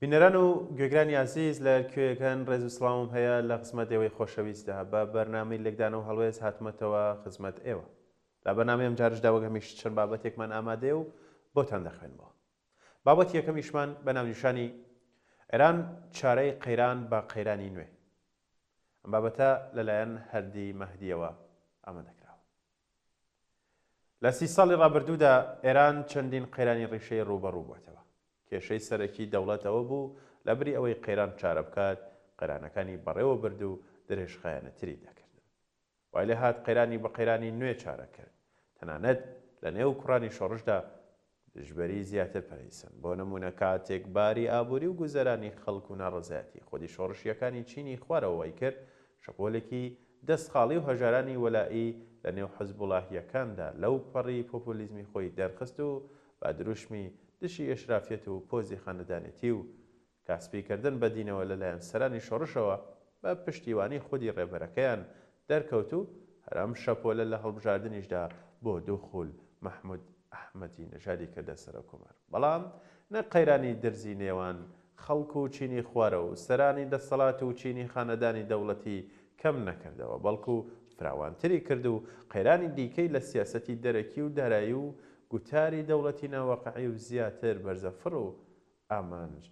بینەران و گوێگرانی ئازیز لە کوێیەکان ڕێز و سڵاوم هەیە لە خزمەت ئێوەی خۆشەویستدا بە بەرنامەی لێکدانە و هەڵوێز هاتمەتەوە خزمەت ئێوە لە بەرنامەی ئەمجارشدا وەک هەمیش چەند بابەتێکمان ئامادەیە و بۆتان دەخوێنمەوە بابەتی یەکەمیشمان بە ناونیشانی ئێران چارەی قەیران بە قەیرانی نوێ ئەم بابەتە لەلایەن هەردی مەهدیەوە ئامادەکراوە لە سی ساڵی ڕابردوودا ئێران چەندین قەیرانی ڕیشەیی ڕووبەڕوو بووەتەوە. کێشەی سەرەکی دەوڵەت ئەوە بوو لەبری ئەوەی قەیران چارە بکات، قەیرانەکانی بەڕێوە برد و درێژخایەنەتری دەکردن. وای لێهات قەیرانی بە قەیرانی نوێ چارە کرد. تەنانەت لە نێو کوڕانی شۆڕشدا دژبەری زیاتر پەرەیسەند، بۆ نموونە کاتێک باری ئابووری و گوزەرانی خەڵک و ناڕەزایەتی خودی شۆڕشییەکانی چینی خوارەوە وای کرد شەپۆلێکی دەست خاڵی و هەژارانی وەلائی لە نێو حزبوڵاهییەکاندا لەو پەڕی پۆپۆلیزمی خۆی دەرخست و بە دروشمی دژی ئێشرافیەت و پۆزی خانەدانێتی و کە سپیکردن بە دینەوە لەلایەن سەرانی شۆڕشەوە بە پشتیوانی خودی ڕێبەرەکەیان دەرکەوت و هەر ئەم شەپۆلە لە هەڵبژاردنیشدا بۆ دوو خوول مەحمود ئەحمەدی نەژادی کردە سەرۆککۆمار بەڵام نە قەیرانی درزی نێوان خەڵک و چینی خوارە و سەرانی دەسەڵات و چینی خانەدانی دەوڵەتی کەم نەکردەوە بەڵکو فراوانتری کرد و قەیرانی دیکەی لە سیاسەتی دەرەکی و دارایی و گوتاری دەوڵەتی ناواقعی و زیاتر بەرزەفڕ و ئامانج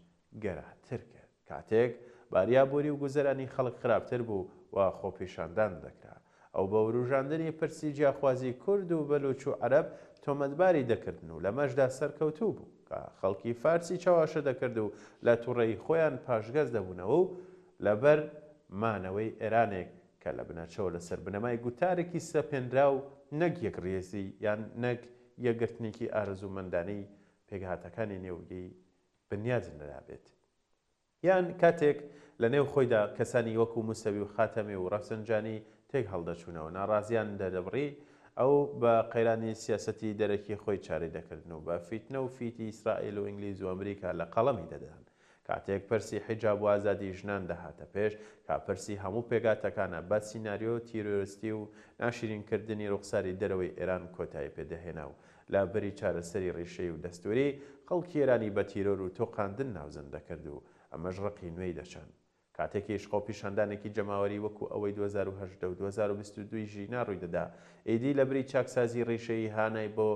گەراتر کرد. کاتێک باریابووری و گوزەرانی خەڵک خراپتر بوو و خۆپیشاندان دەکرا، ئەو بە وروژاندنی پرسی جیاخوازی کورد و بەلووچ و عەرەب تۆمەتباری دەکردن و لەمەشدا سەرکەوتوو بوو کە خەڵکی فارسی چەواشە دەکرد و لە توڕەیی خۆیان پاشگەز دەبوونەوە و لەبەر مانەوەی ئێرانێک کە لە بنەچەوە لەسەر بنەمای گوتارێکی سەپێنراو نەک یەکڕیزی یان نەک یەکگرتنێکی ئارەزوومەندانەی پێکهاتەکانی نێوگی بنیاد نرابێت. یان کاتێک لە نێو خۆیدا کەسانی وەکو موسەوی و خاتەمی و ڕەفسنجانی تێک هەڵدەچوونەوە، ناڕازییان دەردەبڕی، ئەو بە قەیرانی سیاسەتی دەرەکی خۆی چارەی دەکردن و بە فیتنە و فیتی ئیسرائیل و ئینگلیز و ئەمریکا لە قەڵەمی دەدان. کاتێک پرسی حیجاب و ئازادی ژنان دەهاتە پێش، کە پرسی هەموو پێگاتەکانە، بە سیناریۆ تیرۆرستی و ناشیرین کردنی ڕوخساری دەرەوەی ئێران کۆتایی پێ دەهێنا و لە بری چارەسەری ڕیشەیی و دەستووری، خەڵکی ئێرانی بە تیرۆر و تۆقاندن ناوزەند دەکرد و ئەمەش ڕقی نوێی دەچاند. کاتێکیش خۆپیشاندانێکی جەماوەری وەکو ئەوەی دوو هەزار و هەژدە و دوو هەزار و بیست و دوو ی ژینا ڕوویدەدا، ئیدی لەبری چاکسازی ڕیشەیی هانای بۆ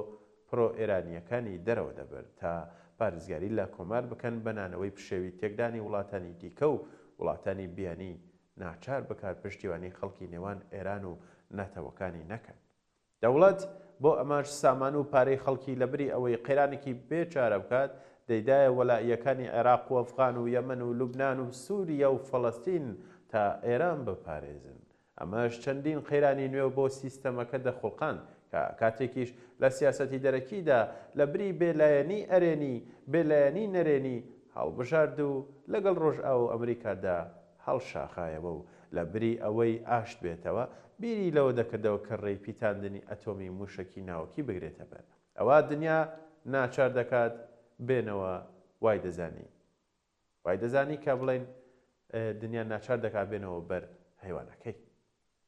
پرۆ ئێرانییەکانی دەرەوە دەبرد تا پارێزگاری لە کۆمار بکەن بە نانەوەی پشێوی تێکدانی وڵاتانی دیکە و وڵاتانی بیانی ناچار بکات پشتیوانی خەڵکی نێوان ئێران و نەتەوەکانی نەکەن دەوڵەت بۆ ئەمەش سامان و پارەی خەڵکی لە بری ئەوەی قەیرانێکی بێ چارە بکات، دەیدایە وەلائیەکانی عێراق و ئەفغان و یەمەن و لوبنان و سوریا و فەڵەستین تا ئێران بپارێزن. ئەمەش چەندین قەیرانی نوێ بۆ سیستەمەکە دەخوڵقاند کە کاتێکیش لە سیاسەتی دەرەکیدا لە بری بێ لایەنی ئەرێنی، بێ لایەنی نەرێنی هەڵبژارد و لەگەڵ ڕۆژئاوا و ئەمریکادا هەڵشاخایەوە و لە بری ئەوەی ئاشت بێتەوە، بیری لەوە دەکردەوە کە ڕێی پیتاندنی ئەتۆمی مووشەکی ناوەکی بگرێتە بەر. ئەوە دنیا ناچار دەکات بێنەوە، وای دەزانی. وای دەزانی کە بڵێین دنیا ناچار دەکات بێنەوە بەر هەیوانەکەی.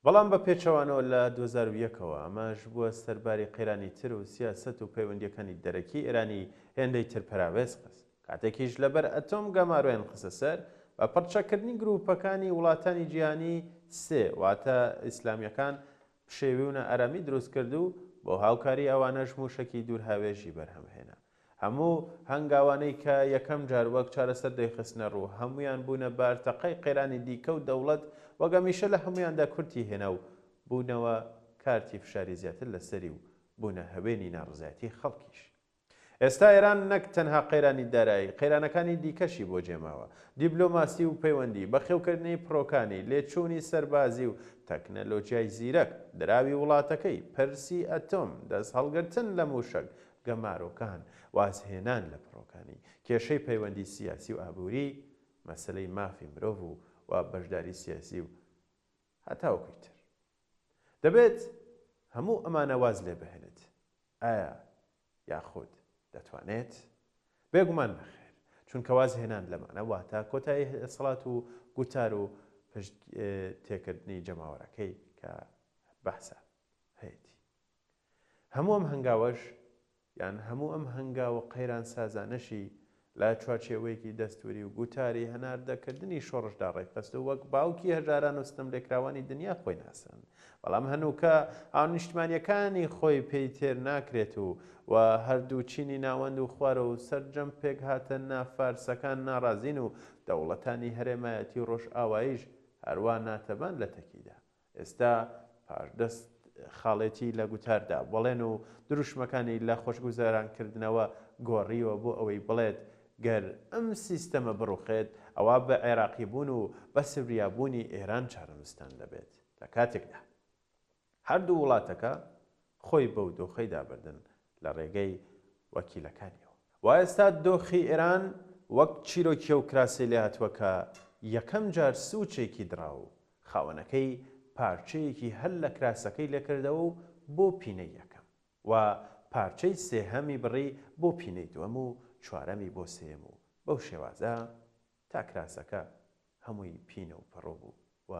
بەڵام بە پێچەوانەوە لە دوو هەزار و یەک ەوە ئەمەش بووە سەر باری قەیرانی تر و سیاسەت و پەیوەندییەکانی دەرەکی ئێرانی هێندەی تر پەراوێز خست، کاتێکیش لەبەر ئەتۆم گەمارۆیان خستە سەر، بە پڕچەککردنی گرووپەکانی وڵاتانی جیهانی سێ واتە ئیسلامییەکان پشێوی و نائارامی دروست کرد و بۆ هاوکاری ئەوانەش مووشەکی دوورهاوێژی بەرهەم هێنا. هەموو هەنگاوانەی کە یەکەم جار وەک چارەسەر دەیخستنە ڕوو، هەموویان بوونە بار تەقەی قەیرانی دیکە و دەوڵەت وەک هەمیشە لە هەموویاندا کورتی هێنا و بوونەوە کارتی فشاری زیاتر لە سەری و بوونە هەوێنی ناڕزایەتی خەڵکیش. ئێستا ئێران نەک تەنها قەیرانی دارایی، قەیرانەکانی دیکەشی بۆ جێماوە، دیبلۆماسی و پەیوەندی، بەخێوکردنی پڕۆکانی، لێچوونی سەربازی و تەکنەلۆجیای زیرەک، دراوی وڵاتەکەی، پرسی ئەتۆم، دەستهەڵگرتن لە مووشەک، گەمارۆکان، وازهێنان لە پڕۆکانی، کێشەی پەیوەندی سیاسی و ئابووری، مەسەلەی مافی مرۆڤ و و بەشداری سیاسی و. هەتاوەکوی تر. دەبێت هەموو ئەمانە واز لێ بهێنێت. ئایا یاخود دەتوانێت؟ بێگومان نەخێر، چونکە وازهێنان لەمانە واتە کۆتایی دەسەڵات و گوتار و پشت تێکردنی جەماوەرەکەی کە بەعسە هەیەتی. هەموو ئەم هەنگاوەش یان هەموو ئەم هەنگاو و قەیرانسازانەشی لە چوارچێوەیەکی دەستووری و گوتاری هەناردەکردنی شۆڕشدا ڕێکخست و وەک باوکی هەژاران و ستەملێکراوانی دنیا خۆی ناساند، بەڵام هەنووکە هاونیشتمانییەکانی خۆی پێی تێر ناکرێت و و هەردوو چینی ناوەند و خوار و سەرجەم پێکهاتە نافارسەکان ناڕازین و دەوڵەتانی هەرێمایەتی و ڕۆژئاواییش هەروا ناتەبان لەتەکیدا ئێستا پاش دە خاڵێتی لە گوتاردا بەڵێن و دروشمەکانی لە خۆشگوزەرانکردنەوە گۆڕیوە بۆ ئەوەی بڵێت گەر ئەم سیستەمە بڕوخێت ئەوا بە عێراقیبوون و بە سوریابوونی ئێران چارەنوستان دەبێت لە کاتێکدا هەردوو وڵاتەکە خۆی بەو دۆخەیدا بردن لە ڕێگەی وەکیلەکانیەوە. وا ئێستا دۆخی ئێران وەک چیرۆکیە و کراسەی لێهاتووە کە یەکەم جار سووچێکی دڕاو خاوەنەکەی پارچەیەکی هەل لە کراسەکەی لێکردەوە و بۆ پینەی یەکەم و پارچەی سێهەمی بڕی بۆ پینەی دووەم و چوارەمی بۆ سێیەم و بەو شێوازە تا کراسەکە هەمووی پینە و پەڕۆ بوو و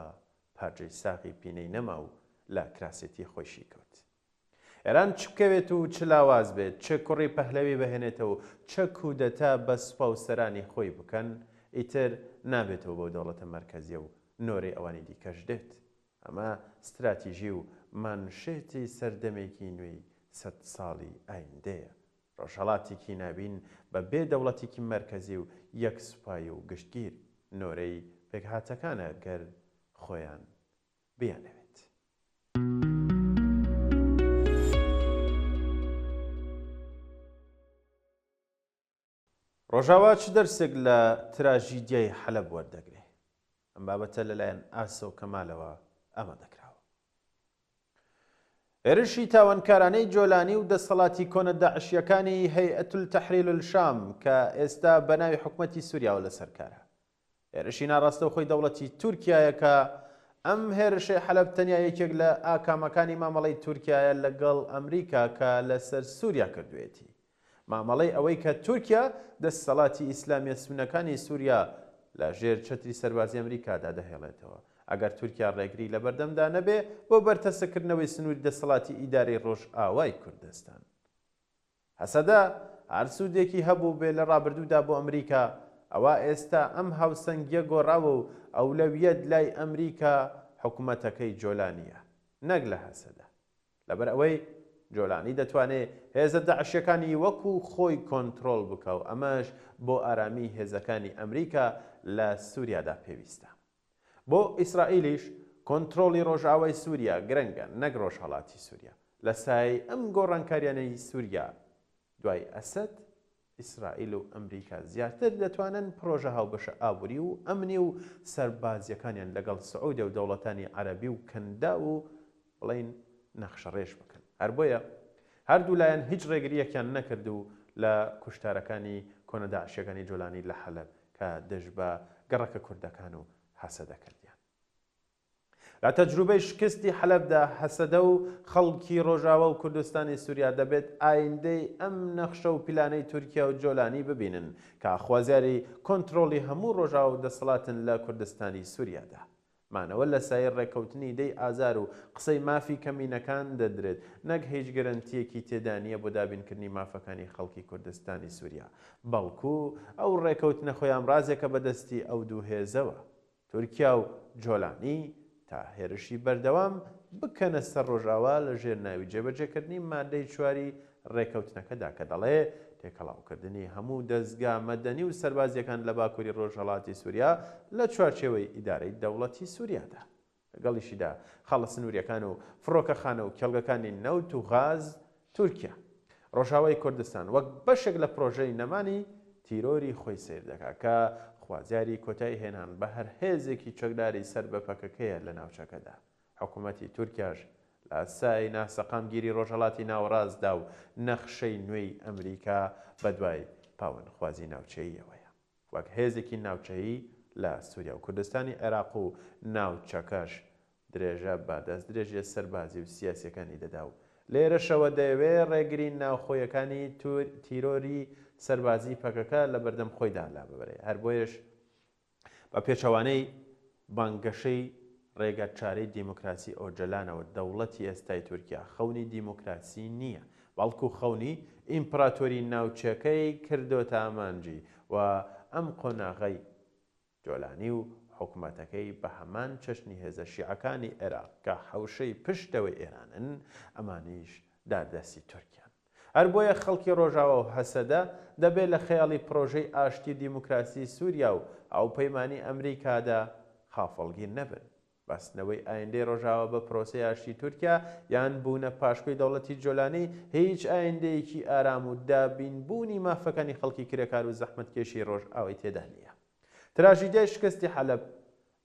پارجەی ساغی پینەی نەما و لە کراسێتی خۆی شیکەوت. ئێران چ بکەوێت و چ لاواز بێت، چ کوڕی پەهلەوی بهێنێتە و چ کودەتا بە سوپا و سەرانی خۆی بکەن، ئیتر نابێتەوە بەو دەوڵەتە مەرکەزیە و نۆرەی ئەوانی دیکەش دێت. ئەمە ستراتیژی و مانشێتی سەردەمێکی نوێی سەد ساڵی ئایندەیە ڕۆژهەڵاتیکی ناوین بە بێ دەوڵەتیکی مەرکەزی و یەک سوپای و گشتگیر، نۆرەی پێکهاتەکانە گەر خۆیان بیانەوێت. ڕۆژاوا چ دەرسێک لە تراژیدیای حەلەب وەردەگرێ؟ ئەم بابەتە لەلایەن ئاسۆ کەمالەوە ئامادەکراوە. هێرشی تاوانکارانەی جۆلانی و دەسەڵاتی کۆنە داعشییەکانی هەیئەت التەحریر الشام کە ئێستا بە ناوی حکومەتی سوریاوە لەسەر کارە هێرشی ناڕاستەوخۆی دەوڵەتی تورکیایە کە ئەم هێرشەی حەلەب تەنیا یەکێک لە ئاکامەکانی مامەڵەی تورکیایە لەگەڵ ئەمریکا کە لەسەر سوریا کردوێتی. مامەڵەی ئەوەی کە تورکیا دەستەڵاتی ئیسلامیە سونەکانی سوریا لە ژێر چەتری سەربازی ئەمریکادا دەهێڵێتەوە. ئەگەر تورکیا ڕێگری لە بەردەمدا نەبێ بۆ بەرتەسککردنەوەی سنووری دەستەڵاتی ئیدارەی ڕۆژئاوای کوردستان. هەسەدە هەر سوودێکی هەبووبێ لە ڕابردوودا بۆ ئەمریکا، ئەوا ئێستا ئەم هاوسەنگیە گۆڕاوە و ئەولەویەت لای ئەمریکا حکومەتەکەی جۆلانیە نەک لە هەسەدە. لەبەر ئەوەی جۆلانی دەتوانێ هێزە داعشیەکانی وەکو خۆی کۆنترۆڵ بکا و ئەمەش بۆ ئارامی هێزەکانی ئەمریکا لە سوریادا پێویستە. بۆ ئیسرائیلیش کۆنترۆڵی ڕۆژئاوای سوریا گرنگە نەک ڕۆژهەڵاتی سوریا. لە سایەی ئەم گۆڕانکاریانەی سوریا دوای ئەسەد، ئیسرائیل و ئەمریکا زیاتر دەتوانن پڕۆژە هاوبەشە ئابووری و ئەمنی و سەربازییەکانیان لەگەڵ سعودیە و دەوڵەتانی عەرەبی و کەنداو و بڵێین نەخشەڕێژ بکەن. هەر بۆیە هەردوو لایەن هیچ ڕێگرییەکیان نەکرد و لە کوشتارەکانی کۆنە داعشییەکانی جۆلانی لە حەلەب کە دژ بە گەڕەکە کوردەکان و هەسەدە کردیان. لە تەجروبەی شکستی حەلەبدا، هەسەدە و خەڵکی ڕۆژاوا و کوردستانی سوریا دەبێت ئایندەی ئەم نەخشە و پیلانەی تورکیا و جۆلانی ببینن کە خوازیاری کۆنترۆڵی هەموو ڕۆژاوا و دەسەڵاتن لە کوردستانی سوریادا. مانەوە لە سایەی ڕێککەوتنی دەی ئازار و قسەی مافی کەمینەکان دەدرێت نەک هیچ گەرەنتییەکی تێدانییە بۆ دابینکردنی مافەکانی خەڵکی کوردستانی سوریا بەڵکو ئەو ڕێکەوتنە خۆیامرازێکە بە دەستی ئەو دوو هێزەوە تورکیا و جۆلانی تا هێرشی بەردەوام بکەنە سەر ڕۆژاوا لە ژێر ناوی جێبەجێکردنی مادەی چواری ڕێکەوتنەکەدا کە دەڵێ تێکەڵاوکردنی هەموو دەزگا مەدەنی و سەربازییەکان لە باکووری ڕۆژهەڵاتی سووریا لە چوارچێوەی ئیدارەی دەوڵەتی سووریادا. لەگەڵیشیدا خاڵە سنوورییەکان و فڕۆکەخانە و کێڵگەکانی نەوت و غاز تورکیا، ڕۆژاوای کوردستان وەک بەشێک لە پرۆژەی نەمانی تیرۆری خۆی سەیر دەکات، کە خوازیاری کۆتایی هێنان بە هەر هێزێکی چەکداری سەر بە پەکەکەیە لە ناوچەکەدا. حکومەتی تورکیاش لە سای ناسەقامگیری ڕۆژهەڵاتی ناوەڕاستدا و نەخشەی نوێی ئەمریکا بەدوای پاوانخوازی ناوچەییەوەیە وەک هێزێکی ناوچەیی لە سوریا و کوردستانی عێراق و ناوچەکەش درێژە بە دەستدرێژییە سەربازی و سیاسییەکانی دەدا و لێرەشەوە دەیەوێ ڕێگری ناوخۆیەکانی تیرۆری سەربازیی پەکەکە لە بەردەم خۆیدا لاببرێ. هەر بۆیەش بە پێچەوانەی بانگەشەی ڕێگاچارەی دیموکراسی ئۆجەلانەوە دەوڵەتی ئێستای تورکیا خەونی دیموکراسی نییە، بەڵکوو خەونی ئیمپراتۆری ناوچەکەی کردۆتە ئامانجی و ئەم قۆناغەی جۆلانی و حکومەتەکەی بە هەمان چەشنی هێزە شیعەکانی عێراق کە حەوشەی پشتەوەی ئێرانن، ئەمانیش داردەستی تورکیان. هەر بۆیە خەڵکی ڕۆژاوا و هەسەدە دەبێ لە خەیاڵی پڕۆژەی ئاشتی و دیموکراسی سووریا و هاوپەیمانیی ئەمریکادا خافڵگیر نەبن. بەستنەوەی ئایندەی ڕۆژاوا بە پرۆسەی ئاشتی تورکیا، یان بوونە پاشکۆی دەوڵەتی جۆلانی، هیچ ئایندەیەکی ئارام و دابین بوونی مافەکانی خەڵکی کرێکار و زەحمەتکێشی ڕۆژئاوای تێدا نییە. تراژیدیای شکستی حەلەب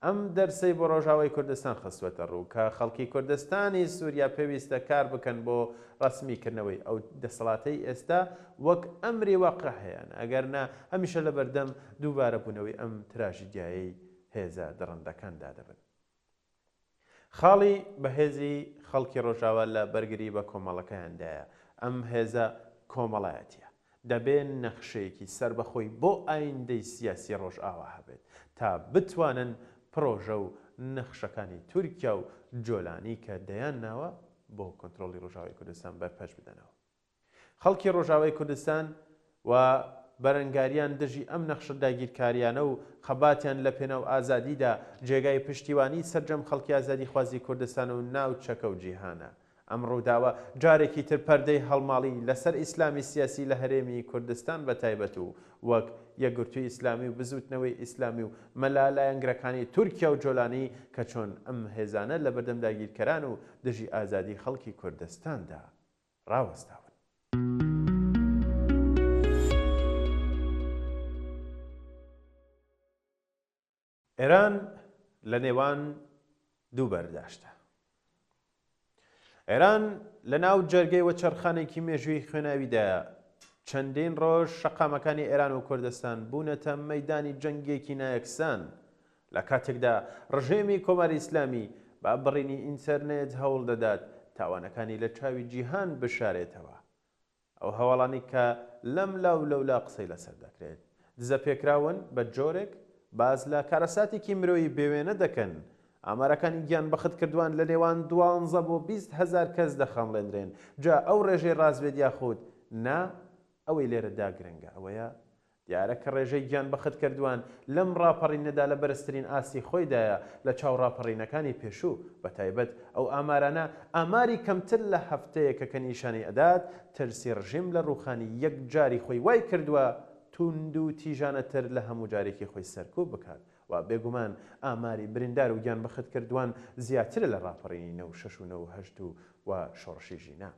ئەم دەرسەی بۆ ڕۆژاوای کوردستان خستووەتە ڕوو کە خەڵکی کوردستانی سوریا پێویستە کار بکەن بۆ ڕەسمی کردنەوەی ئەو دەسەڵاتەی ئێستا وەک ئەمری واقع هەیانە ئەگەرنا هەمیشە لەبەردەم دووبارە بوونەوەی ئەم تراژیدیایەی هێزە دڕندەکان دادەبن. خاڵی بەهێزی خەڵکی ڕۆژاوا لە بەرگری بە کۆمەڵەکەیاندایە، ئەم هێزە کۆمەڵایەتیە، دەبێ نەخشەیەکی سەربەخۆی بۆ ئایندەی سیاسی ڕۆژئاوا هەبێت، تا بتوانن پڕۆژە و نەخشەکانی تورکیا و جۆلانی کە دەیان ناوە بۆ کۆنترۆڵی ڕۆژاوای کوردستان بەرپەچ بدەنەوە. خەڵکی ڕۆژاوای کوردستان و بەرەنگاریان دژی ئەم نەخشە داگیرکاریانە و خەباتیان لە پێناو ئازادیدا جێگای پشتیوانی سەرجەم خەڵکی ئازادیخوازی کوردستان و ناوچەکە و جیهانە. ئەم ڕووداوە جارێکی تر پەردەی هەڵماڵی لەسەر ئیسلامی سیاسی لە هەرێمی کوردستان بە تایبەت و وەک یەکگرتووی ئیسلامی و بزووتنەوەی ئیسلامی و مەلا لایەنگرەکانی تورکیا و جۆلانی کە چۆن ئەم هێزانە لەبەردەم داگیرکەران و دژی ئازادی خەڵکی کوردستاندا ڕاوەستاون. ئێران لە نێوان دوو بەرداشدا. ئێران لە ناو جەرگەی وەچەرخانێکی مێژووی خوێناویدایە، چەندین ڕۆژ شەقامەکانی ئێران و کوردستان بوونەتە مەیدانی جەنگێکی نایەکسان لە کاتێکدا ڕژێمی کۆماری ئیسلامی بە بڕینی ئینتەرنێت هەوڵ دەدات تاوانەکانی لە چاوی جیهان بشارێتەوە، ئەو هەواڵانەی کە لەم لا و لەولا قسەی لەسەر دەکرێت، دزەپێکراون، بە جۆرێک باس لە کارەساتێکی مرۆیی بێوێنە دەکەن، ئامارەکانی گیانبەختکردوان لە نێوان دوانزە بۆ بیست هەزار کەس دەخەمڵێندرێن، جا ئەو ڕێژەی ڕاست بێت یاخود نا، ئەوەی لێرەدا گرنگە ئەوەیە دیارە کە ڕێژەی گیان بەخت کردووان لەم ڕاپەڕینەدا لە بەرزترین ئاستی خۆیدایە لە چاو ڕاپەڕینەکانی پێشوو، بە تایبەت ئەو ئامارانە ئاماری کەمتر لە هەفتەیەکە کە نیشانی ئەدات ترسی ڕژیم لە ڕووخانی یەکجاری خۆی وای کردووە تووندوتیژانەتر لە هەموو جارێکی خۆی سەرکووپ بکات و بێگومان ئاماری بریندار و گیان بەخت کردووان زیاترە لە ڕاپەڕینی نەوشەش و نەوهەشت و شۆڕشی ژینا.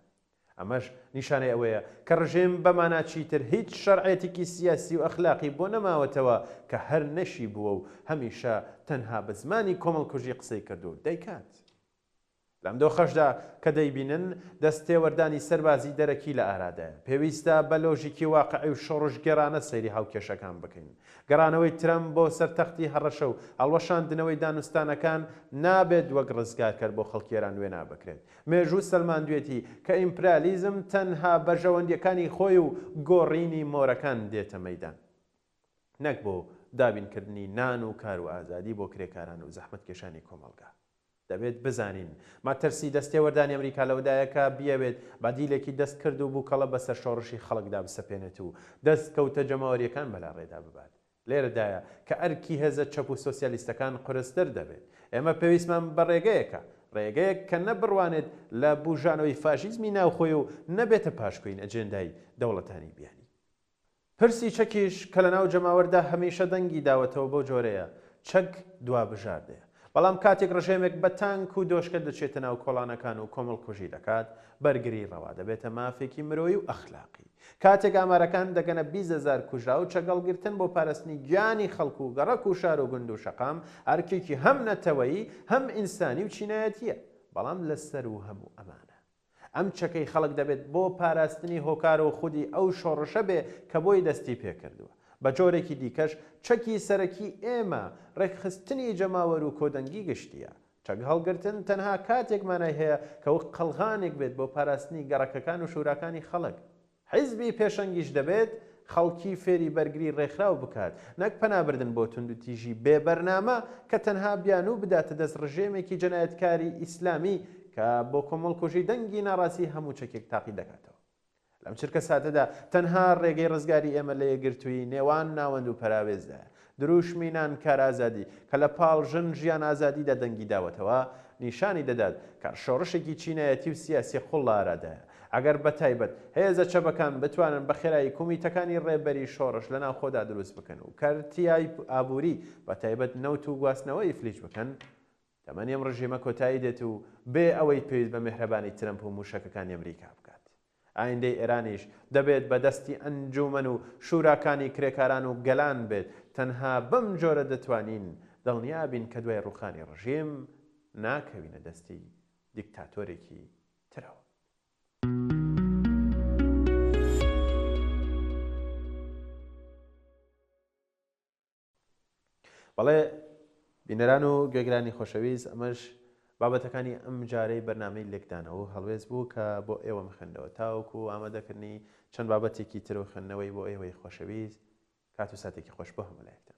ئەمەش نیشانەی ئەوەیە کە ڕژێم بە مانا چیتر هیچ شەرعێتیکی سیاسی و ئەخلاقی بۆ نەماوەتەوە کە هەر نەشی بووە و هەمیشە تەنها بە زمانی کۆمەڵکوژی قسەی کردوو و دەیکات. لەم دۆخەشدا کە دەیبینن دەست تێوەردانی سەربازی دەرەکی لە ئارادایە، پێویستە بە لۆژیکی واقعی و شۆڕشگێڕانە سەیری هاوکێشەکان بکەین. گەڕانەوەی ترەمپ بۆ سەر تەختی هەڕەشە و هەڵوەشاندنەوەی دانوستانەکان نابێت وەک ڕزگارکەر بۆ خەڵکی ئێران وێنا بکرێت، مێژوو سەلماندوێتی کە ئیمپرالیزم تەنها بەرژەوەندیەکانی خۆی و گۆڕینی مۆرەکان دێتە مەیدان نەک بۆ دابین کردنی نان و کار و ئازادی بۆ کرێکاران و زەحمەتکێشانی کۆمەڵگا. دەبێت بزانین مەترسی دەستێوەردانی ئەمریکا لەوەدایە کە بیەوێت بەدیلێکی دەستکرد و بوکەڵە بەسەر شۆڕشی خەڵکدا بسەپێنێت و دەست کەوتە جەماوەریەکان بەلاڕێدا ببات لێرەدایە کە ئەرکی هێزە چەپ و سۆسیالیستەکان قورستر دەبێت. ئێمە پێویستمان بە ڕێگەیەکە، ڕێگەیەک کە نە بڕوانێت لە بووژانەوەی فاشیزمی ناوخۆی و نە بێتە پاشکۆی ئەجێندای دەوڵەتانی بیانی. پرسی چەکیش کە لەناو جەماوەردا هەمیشە دەنگی داوەتەوە بەو جۆرەیە، چەک دوا بژاردەیە. بەڵام کاتێک ڕژێمێک بە تانک و دۆشکە دەچێتە ناو کۆڵانەکان و کۆمەڵکوژی دەکات، بەرگری ڕەوا دەبێتە مافێکی مرۆیی و ئەخلاقی. کاتێک ئامارەکان دەگەنە بیست هەزار کوژراو، چەگەڵگرتن بۆ پارستنی گیانی خەڵک و گەڕەک و شار و گوند و شەقام، ئەرکێکی هەم نەتەوەیی، هەم ئینسانی و چینایەتییە. بەڵام لە سەروو هەموو ئەمانە، ئەم چەکەی خەڵک دەبێت بۆ پاراستنی هۆکار و خودی ئەو شۆڕشە بێ کە بۆی دەستی پێ کردووە. بە جۆرێکی دیکەش، چەکی سەرەکی ئێمە، ڕێکخستنی جەماوەر و کۆدەنگی گشتییە. چەک هەڵگرتن تەنها کاتێک مانای هەیە کە وەک قەڵغانێک بێت بۆ پاراستنی گەڕەکەکان و شوراکانی خەڵک. حیزبی پێشەنگیش دەبێت خەڵکی فێری بەرگری ڕێکخراو بکات، نەک پەنابردن بۆ توندوتیژی بێ بەرنامە کە تەنها بیانوو بداتە دەست ڕژێمێکی جەنایەتکاری ئیسلامی کە بۆ کۆمەڵکوژی دەنگی ناڕازی هەموو چەکێک تاقی دەکاتەوە. لەم چرکەساتەدا تەنها ڕێگەی ڕزگاری ئێمە لە یەکگرتوویی نێوان ناوەند و پەراوێزدایە. درووشمی نان کار ئازادی کە لە پاڵ ژن ژیان ئازادیدا دەنگی داوەتەوە، نیشانی دەدات کە شۆڕشێکی چینایەتی و سیاسی قووڵ لە ئارادایە. ئەگەر بە تایبەت هێزە چەپەکان بتوانن بە خێرایی کومیتەکانی ڕێبەری شۆڕش لە ناوخۆدا دروست بکەن و کەرتی ئابووری بە تایبەت نەوت و گواستنەوە ئیفلیج بکەن، تەمەنی ئەم ڕژێمە کۆتایی دێت و بێ ئەوەی پێویست بە مێهرەبانی ترەمپ و مووشەکەکانی ئەمریکا بکات. ئایندەی ئێرانیش دەبێت بە دەستی ئەنجوومەن و شووراکانی کرێکاران و گەلان بێت، تەنها بەم جۆرە دەتوانین دڵنیا بین کە دوای ڕووخانی ڕژیم ناکەوینە دەستی دیکتاتۆرێکی ترەوە. بەڵێ بینەران و گوێگرانی خۆشەویست ئەمەش بابەتەکانی ئەم جارەی بەرنامەی لێکدانەوە و هەڵوێست بوو کە بۆ ئێوەم خوێندەوە تاوەکو و ئامادەکردنی چەند بابەتێکی تر و خوێندنەوەی بۆ ئێوەی خۆشەویست کات و ساتێکی خۆش بۆ هەموو لایەکتان